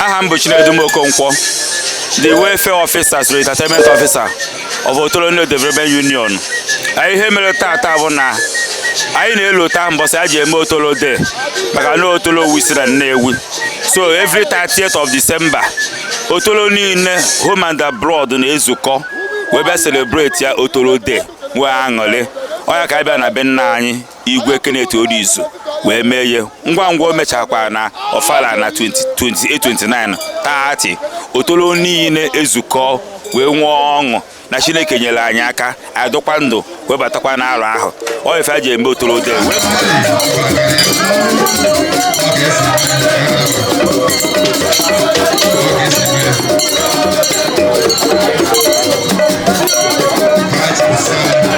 aha m bụ Chinedu Okonkwo the welfare officer so entertainment officer of Otolo Development Union ihe mere tata bụ na anyị na-elota mbọsị a ji eme otolo day maka na otolo wụ isi na Nnewi so every 30th of December otolo niile home and abroad na-ezukọ wee bịa celebrate ya otolo day wee aṅụrị ọ nya ka anyị bịa na be nna anyị igwe Kenneth Orizu wee mee ihe ngwa ngwa o mechakwa na ọfala na 28 29 30th otolo niile ezukọ wee nwee ọṅụ na chineke nyere anyị aka adụkwa ndụ wee batakwa n'arọ ahụ ọ ife a ji eme otolo day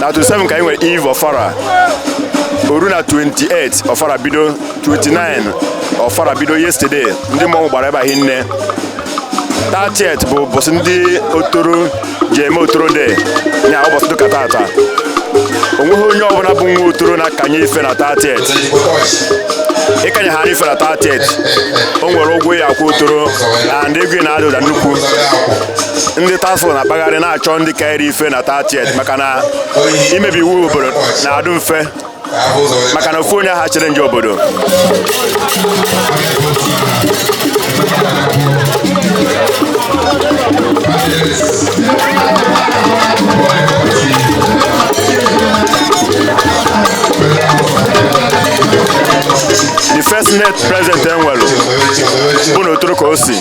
na 27 ka anyị nwere eve ọfala o ruo na 28 ọfala bido 29 ọfala bido yesterday ndị mmọnwụ gbara ebe a hinne 30th bụ ụbọsị ndị otolo ji eme otolo day nya ụbọsị dịka tata onweghị onye ọbụla bụ nwa otolo na-akanye ife na 30th ị kanyehana ife na 30th o nwere ụgwọ ị ya-akwụ otolo and ego ahụ na-ada ụda nnukwu ndị task force na-akpagharị na-achọ ndị kanyere ife na 30th maka na imebi iwu obodo na-adụ mfe maka na ofu onye ha chere nje obodo the first senate president e nwelu bụ na otolo ka o si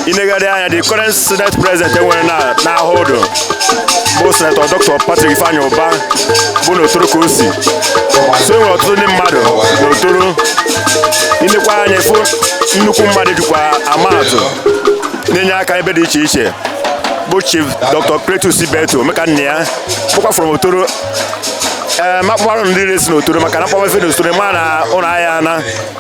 i negharịa anya the current senate president e nwere na n'ahụ ụdụ bụ senator dr patrick ifeanyi ụba bụ n'otolo ka o si so e nwere ọtụtụ ndị mmadụ n'otolo i nekwa anya ị fụ nnukwu mmadụ dịkwa amaatụ na-enye aka ebe dị iche iche bụ chief dr cletus ibeto omekannaya bụkwa from otolo ee m akpọkwarọ the rest si n'otolo maka na m kpọma ife n'otolo ma na ụlọ ahịa na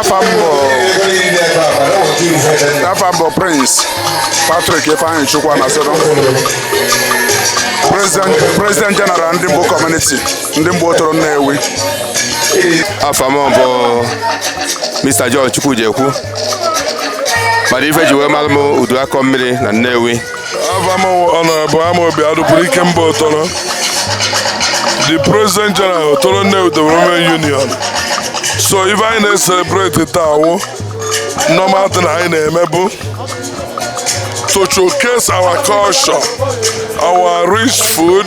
afa m bụ afa m bụ prince patrick ifeanyichukwu anazodo president president general ndimgbu community ndimgbu otolo nnewi afa m bụ mr john chukwujekwu mana ife e ji wee mara m udu akọ mmiri na nnewi Honorable Amobi Adikwuru Ikemba Otolo, the President General Otolo Nnewi Development Union. So ife anyị na-eselebreti taa wụ normal thing anyị na-eme bụ to showcase our culture, our rich food,